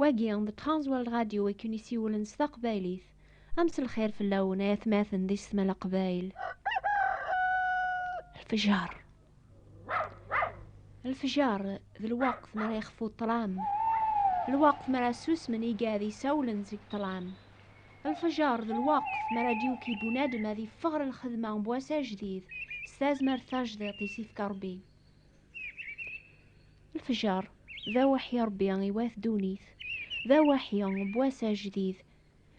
Wagi d Transworld Radio i ken-isiwlen s taqbaylit. A mselxir fell-awen ay atmaten di Setma Leqbayel. Lfejer. Lfejer d lweqt mi ara yexfu ṭṭlam. Lweqt mi ara susmen igad isawlen seg ṭṭlam. Lfejer d lweqt mi ara d-yuki bunadem ad yeffeɣ ɣer lxedma n wass ajdid s tazmert tajdiṭ i s-ifka Rebbi. Lefjer, d awaḥi Ṛebbi iwat ddunit, d awaḥi n wass ajdid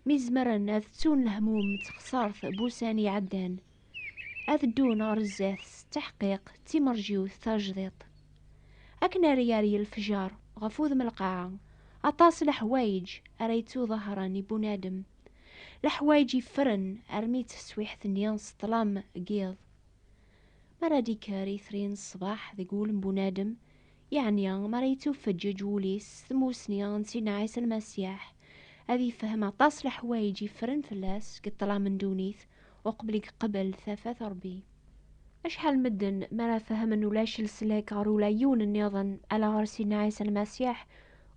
mi zemren ad ttun lehmum d texṣart n wussan iɛeddan, ad ddun ɣer zdat s tteḥqiq d timerjiwt tajdiṭ. Akken ara yerr lefjer ɣef wudem lqaɛa, aṭas leḥwayeǧ ara yettuḍahṛen i bunadem, leḥwayeǧ yeffren armi d taswiḥt-nni s ṭṭlam n yiḍ. Mi ara d-ikker itri n ṣṣbeḥ deg wul n bunadem, yeɛni mi ara yettufeǧǧeǧ wul-is s tmussni n Sidna Ɛisa Lmasiḥ, ad ifhem aṭas n leḥwayeǧ yeffren fell-as deg ṭṭlam n ddunit uqbel i yeqbel tafat n Ṛebbi. Acḥal n medden mi ara fehmen ulac leslak ɣer ula yiwen nniḍen ala ɣer Sidna Ɛisa Lmasiḥ,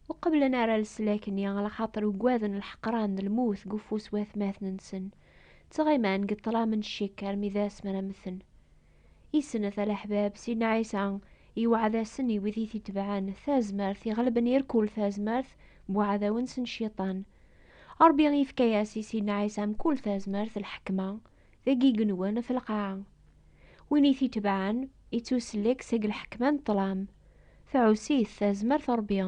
ur qebblen ara leslak-nni, ala xaṭer ugaden lḥeqran d lmut deg ufus n watmaten-nsen. ttɣiman deg ṭṭlam n ccikk armi d ass mi ara mmten. I snat a leḥbab, Sidna Ɛisa yewɛed-asen i wid i t-itebɛen tazmert iɣelben ir kull tazmert n uɛdaw-nsen Cciṭan. Ṛebbi yefka-yas i Sidna Ɛisa mkul tazmert lḥekma, deg igenwan ɣef lqaɛa. Win i t-itebɛen, ittusellek seg lḥekma n ṭṭlam, tɛuss-it tazmert n Ṛebbi,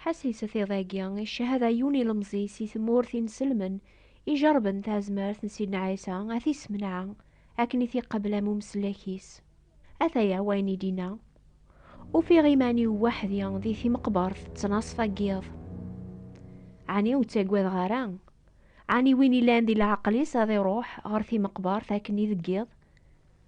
Ḥasilset iḍ-agi, icehhed ɛeyyun ilemẓi si tmurt inselmen, ijerben tazmert n Sidna Ɛisa, ad t-issemneɛ akken i t-iqabel am umeslak-is. Ataya wayen i d-inna, Ufiɣ iman-iw weḥdi di timeqbert ttnaṣfa n yiḍ. Ɛni ur ttagadeɣ ara? Ɛni win illan di leɛqel-is ad iruḥ ɣer timeqbert akken i deg yiḍ?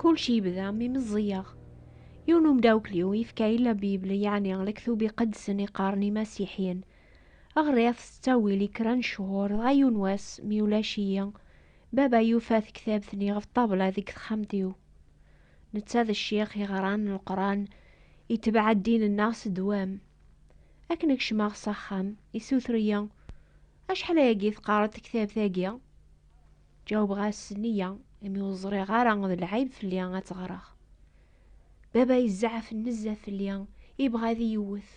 Kulci yebda mi meẓẓiyeɣ. Yiwen umdawkliw yefka-yi la Bible yeɛni lektub iqedsen iqqaren imasiḥyen. Ɣriɣ-t s ttawil i kra n ccuhur dɣa yiwen wass mi ulac-iyi, baba yufa tektabt-nni ɣef ṭṭabla deg texxamt-iw. Netta d ccix iɣran Leqran, itebɛa ddin-nneɣ s ddwam. Akken i kecmeɣ s axxam, issuter-iyi, Acḥal ayagi teqqareḍ tektabt-agi? Ǧawbeɣ-as nniya imi ur ẓriɣ ara d lɛib fell-i ad tt-ɣreɣ. Baba yezɛef nezzeh fell-i, yebɣa ad iyi-iwwet.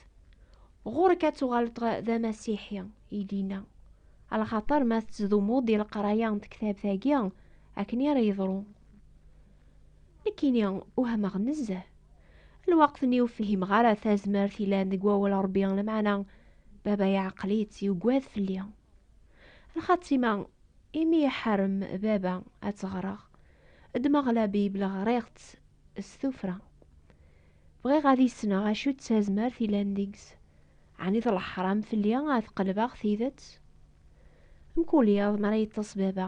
Ɣur-k ad tuɣaleḍ d amasiḥi, i d-yenna. Lxaṭer ma tettdumuḍ di leqraya n tektabt-agi, akken i ara yeḍru. Nekkini wehmeɣ nezzeh. Lweqt-nni ur fhimeɣ ara tazmert yellan deg wawal Ṛebbi, lameɛna baba iɛqel-itt, yuggad fell-i. Lxatima, imi iḥarem baba ad tt-ɣreɣ, ddmeɣ la Bible ɣriɣ-tt s tufra. Bɣiɣ ad isneɣ acu d tazmert ilan deg-s. Ɛni d leḥram fell-i ad qelbeɣ tidet? Mkul iḍ mi ara yeṭṭes baba,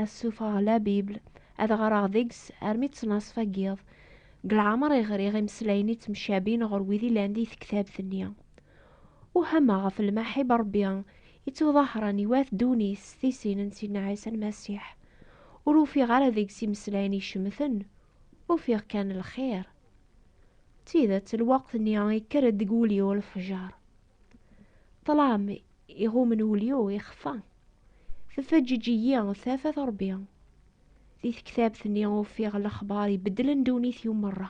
ad ssufɣeɣ la Bible, ad ɣreɣ deg-s armi ttnaṣfa n yiḍ. Deg leɛmer i ɣriɣ imeslayen ittemcabin ɣer wid ilan di tektabt-nni. Uhameɣ ɣef lmaḥib n Ṛebbi ittuḍahren i wat ddunit s tisin n Sidna Ɛisa Lmasiḥ. Ur ufiɣ ara deg-s imeslayen icemten, ufiɣ kan lxir. D tidet, lweqt-nni ikker-d deg wul-iw lefjer. Ṭṭlam iɣummen wul-iw ixfa. Tefeǧǧeǧ-iyi tafat n Ṛebbi. Di tektabt-nni ufiɣ lexbar ibeddlen ddunit-iw merra.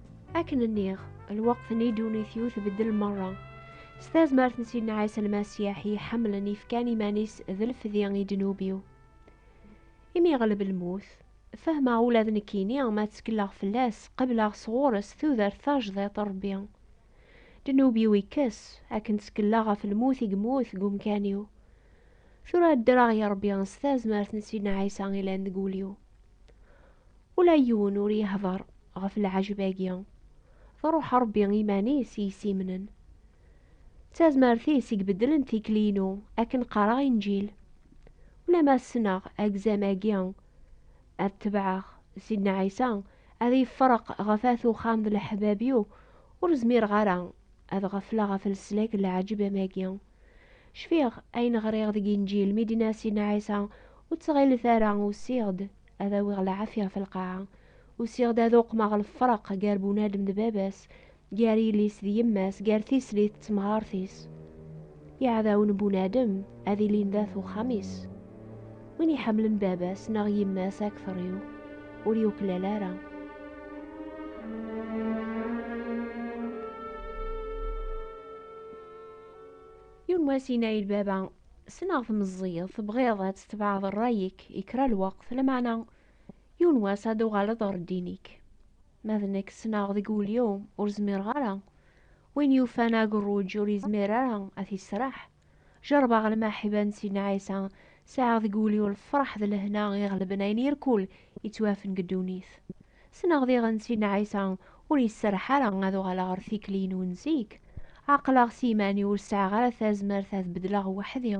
akken nniɣ lweqt n idunit-iw tbeddel merra s tazmert n Sidna Ɛisa Lmasiḥ i iḥemmlen ifkan iman-is d lefdi i ddnub-iw. Imi yeɣleb lmut, fehmeɣ ula d nekkini ma ttekleɣ fell-as qebleɣ sɣur-s tudert tajdiṭ n Rebbi. Ddnub-iw ikkes akken ttekleɣ ɣef lmut i yemmut deg umkan-iw. Tura ddreɣ i Rebbi s tazmert n Sidna Ɛisa ilan deg wul-iw. Ula yiwen ur yehder ɣef lɛejb-agi. Truḥ Rebbi iman-is i yessimnen. D tazmert-is i ibeddlen tikli-inu akken qqareɣ inǧil. Ulamma ssneɣ agzam-agi ad tebɛeɣ Sidna Ɛisa ad yefreq ɣef At Uxxam d leḥbab-iw, ur zmireɣ ara ad ɣefleɣ ɣef leslak n lɛejb am-agi. Cfiɣ ayen ɣriɣ deg inǧil mi d-inna Sidna Ɛisa, ur ttɣilet ara usiɣ-d ad awiɣ lɛafya ɣef lqaɛa, usiɣ-d ad uqmeɣ lefreq gar bunadem d baba-s, gar yelli-s d yemma-s, gar tislit d temɣart-is. Iɛdawen n bunadem ad ilin d at uxxam-is. Win iḥemmlen baba-s neɣ yemma-s akteṛ-iw, ur yuklal ara. Yiwen wass yenna i lbaba, Ssneɣ tmeẓẓiyeḍ tebɣiḍ ad tetbeɛeḍ rray-ik i kra lweqt, lameɛna yiwen wass ad d-tuɣaleḍ ɣer ddin-ik. Ma d nekk ssneɣ deg wul-iw ur zmireɣ ara. Win yufan agerruj ur yezmir ara ad t-yessraḥ. Jeṛbeɣ lmaḥiba n Sidna Ɛisa, sɛiɣ deg wul-iw lfeṛḥ d lehna iɣelben ayen irkul yettwafen deg ddunit. Ssneɣ diɣen Sidna Ɛisa ur iserreḥ ara ad uɣaleɣ ɣer tikli-inu n zik. Ɛeqleɣ s yiman-iw ur sɛiɣ ara tazmert ad beddleɣ weḥd-i.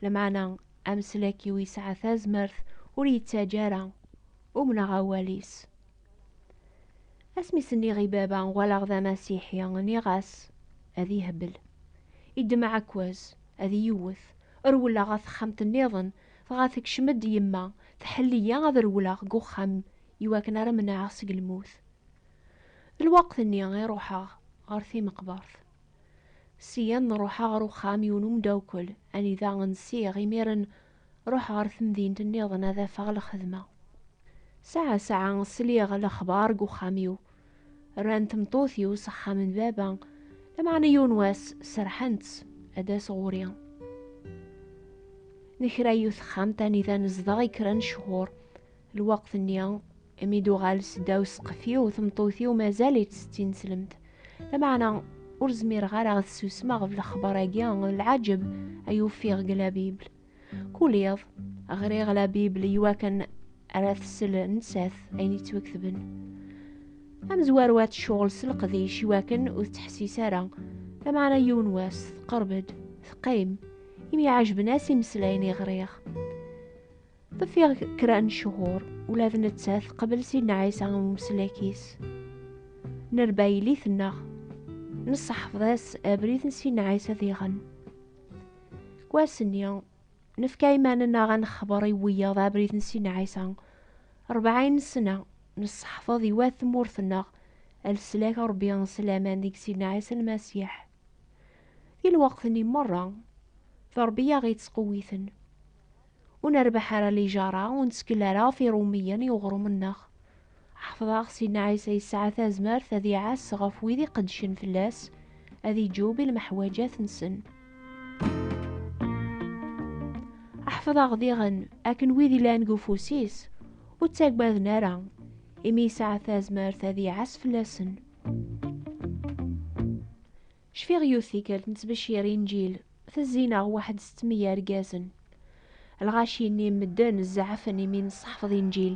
Lameɛna ameslak-iw yesɛa tazmert ur yettaǧǧa ara. Umneɣ awal-is. Asmi s-nniɣ i baba uɣaleɣ d amasiḥi, nniɣ-as ad ihbel. Iddem aɛekkaz, ad iyi-iwwet. Rewleɣ ɣer texxamt-nniḍen, Dɣa tekcem-d yemma, tḥell-iyi ad rewleɣ deg uxxam i wakken ara menɛeɣ seg lmut. D lweqt-nni i ruḥeɣ ɣer timeqbert. Syen nruḥ ɣer uxxam yiwen umdawkel anida nsiɣ imiren ruḥ ɣer temdint nniḍen ad afeɣ lxedma. Saɛa saɛa sliɣ lexbar deg uxxam-iw Rran tmeṭṭut-iw s axxam n baba, lameɛna yiwen wass serḥen-tt ad as ɣuri. Nekra yiwet texxamt anida nezdeɣ i kra n cchur. Lweqt-nni, imi d-uɣal seddaw ssqef-iw, tmeṭṭut-iw mazal-itt d tineslemt. Lameɛna ur zmireɣ ara ad susmeɣ ɣef lexbar-agi n lɛaǧeb ay ufiɣ deg La Bible. Kul iḍ, ɣriɣ la Bible iwakken ara tsel nettat ayen yettwaketben. Amezwaru ad tecɣel s leqdic iwakken ur tettḥessis ara, lameɛna yiwen wass teqreb-d, teqqim, imi ɛejben-as imeslayen i ɣriɣ. Ḍfiɣ kra n ccuhur, ula d nettat teqbel Sidna Ɛisa am umeslak-is. Nerba yelli-tneɣ, nesseḥfeḍ-as abrid n Sidna Ɛisa diɣen. Deg wass-nni, nefka iman-nneɣ ad nexber i wiyaḍ abrid n Sidna Ɛisa. Rebɛin ssna, nesseḥfeḍ i wat tmurt-nneɣ a leslak n Rebbi s laman deg Sidna Ɛisa Lmasiḥ. Di lweqt-nni merra, d Rebbi i aɣ-yettqewwiten. ur nerbeḥ ara lijara, ur nettkel ara ɣef Iṛumiyen i uɣrum-nneɣ. Ḥefḍeɣ Sidna Ɛisa yesɛa tazmert ad iɛass ɣef wid iqeddcen fell-as, ad iǧub i lmeḥwaǧat-nsen. Ḥefḍeɣ diɣen akken wid yellan deg ufus-is ur ttaggaden ara, imi yesɛa tazmert ad iɛass fell-asen. Cfiɣ yiwet tikkelt nettbecir inǧil, tezzi-neɣ waḥed setmi yergazen. Lɣaci-nni n medden zeɛfen imi nesseḥfeḍ inǧil.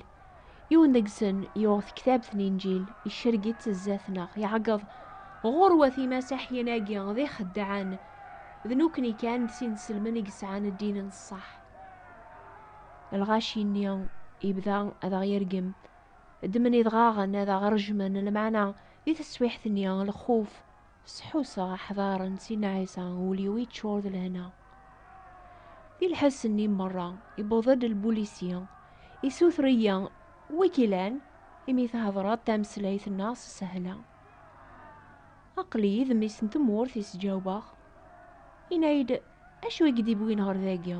Yiwen deg-sen yuɣ tektabt n inǧil, icerreg-itt zdat-neɣ, iɛeggeḍ, Ɣurwat imasaḥiyen-agi d ixeddɛen, d nukni kan d tinselmen i yesɛan ddin n ṣṣeḥ. Lɣaci-nni yebda ad aɣ-yergem, ddmen idɣaɣen ad aɣ-rejmen, lmeɛna di teswiḥt-nni lxuf Sḥusseɣ aḥdar n Sidna Ɛisa, ul-iw yeččur d lehna. Di lḥess-nni merra, yewweḍ-d lbulisi, yessuter-iyi wi k-ilan, imi thedreḍ tameslayt-nneɣ s sehla. Aql-iyi d mmi-s n tmurt, i s-ǧawbeɣ. Yenna-yi-d, Acu i k-d-iwwin ɣer dagi?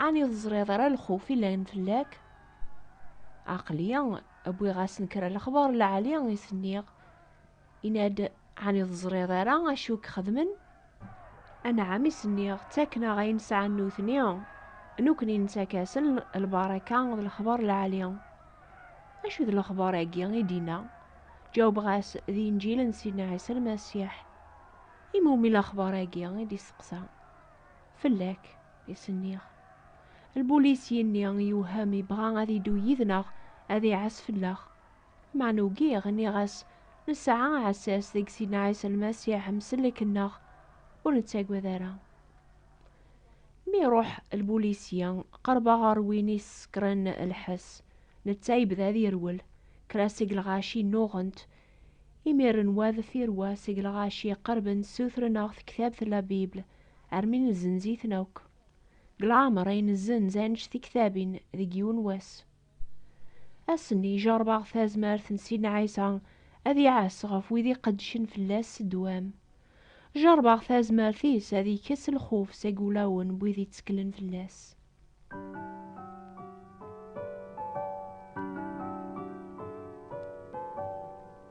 Ɛni ur teẓriḍ ara lxuf yellan fell-ak? Aql-i wwiɣ-asen kra lexbar n lɛali, i s-nniɣ. Yenna-d, Ɛni ur teẓriḍ ara acu i k-xedmen? Anɛam, i s-nniɣ, ttaken-aɣ ayen sɛan nutni, nukni nettak-asen lbaraka d lexbar lɛali. Acu d lexbar-agi i d-inna? Ǧawbeɣ-as, D Inǧil n Sidna Ɛisa Lmasiḥ. I mumi lexbar-agi? i d-isteqsa. Fell-ak, i s-nniɣ. Lbulis yenni, Yewhem, yebɣa ad yeddu yid-neɣ, ad iɛas fell-aɣ. Meɛna ugiɣ, nniɣ-as, Nesɛa aɛessas deg Sidna Ɛisa Lmasiḥ, msellek-nneɣ, ur nettagad ara. Mi iruḥ lbulisya, qerbeɣ ɣer win i s-sekkren lḥess, netta yebda ad yerwel, kra seg lɣaci nnuɣent, imiren wa deffir wa seg lɣaci qerben ssutren-aɣ tektabt La Bible, armi nezzenz-iten akk. Deg leɛmer ay nezzenz annect tektabin deg yiwen wass. Ass-nni i jeṛbeɣ tazmert n Sidna Ɛisa ad iɛas ɣef wid iqeddcen fell-as s ddwam. Jeṛbeɣ tazmert-is ad ikkes lxuf seg wulawen n wid itteklen fell-as.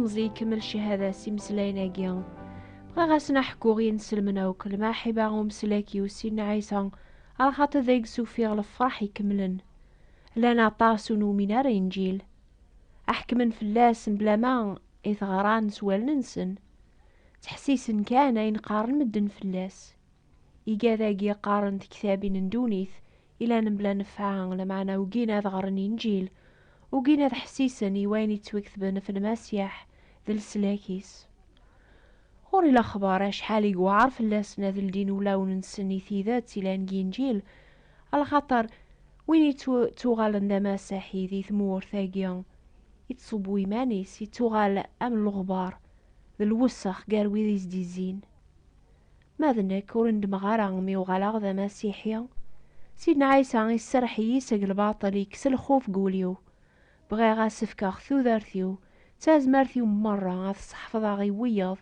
ilemẓi ikemmel cihada s imeslayen-agi. Bɣiɣ ad sen-aḥkuɣ inselmen akk lmaḥiba umeslak i usin n Ɛisa, ar xaṭi deg-s ufiɣ lefraḥ ikemlen. Llan aṭas ur numin ara Inǧil. Ḥekmen fell-as mebla ma i t-ɣran s wallen-nsen. Ttḥessisen kan ayen qqaren medden fell-as. Iga dagi qqaren tektabin n ddunit i llan mebla nnefɛa, lameɛna ugin ad ɣren Inǧil, ugin ad ḥessisen i wayen yettwaketben ɣef Lmasiḥ d leslak-is. Ɣur-i lexbar acḥal i yewɛer fell-asen ad ldin ulawen-nsen i tidet yellan deg Inǧil, Ala xaṭer win yettuɣalen d amasaḥi di tmurt-agi, yettṣubbu iman-is, yettuɣal am leɣbar d lwessex gar wid i s-d-izzin. Ma d nekk, ur nedmeɣ ara mi uɣaleɣ d amasiḥi. Sidna Ɛisa iserreḥ-iyi seg lbaṭel, yekkes lxuf deg wul-iw. Bɣiɣ ad s-fkeɣ tudert-iw, d tazmert-iw merra ad t-sḥefḍeɣ i wiyaḍ,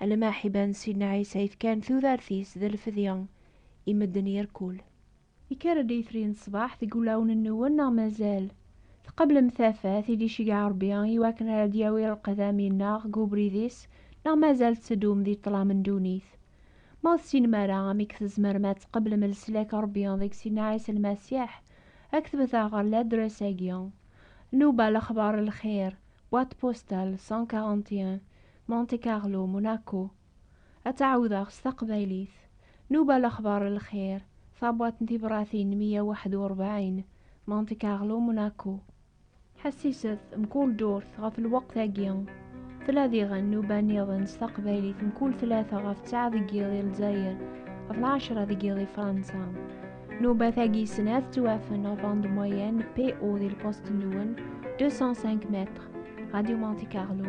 alamma Ḥiban Sidna Ɛisa yefkan tudert-is d lfedya i medden irkul. Yekker-d yitri n ṣṣbeḥ deg wulawen-nwen neɣ mazal? Tqeblem tafat i d-iceggeɛ Rebbi i wakken ara d-yawi lqedami-nneɣ deg ubrid-is neɣ mazal tetteddum di ṭṭlam n ddunit? Ma ur tessinem ara amek tzemrem ad tqeblem leslak n Rebbi deg Sidna Ɛisa Lmasiḥ, Ad k-tbet-aɣ ɣer ladres-agi, Nnuba Lexbar Lxir, boîte postale 141, Monte Carlo, Monaco. Ad tt-ɛawdeɣ s taqbaylit, Nnuba Lexbar Lxir, tabuɛt n tibratin meyya waḥed u rebɛin, Monte Carlo, Monaco. Ḥassiset, mkul ddurt ɣef lweqt-agi. Tella diɣen nnuba niḍen s taqbaylit mkul tlata ɣef ttɛa deg yiḍ i Lezzayer, ɣef lɛecra deg yiḍ i Fransa. Nnuba-tagi snat tettwafen ɣef bande moyenne PO di lpost-nwen 205 mètres, Radio Monte Carlo.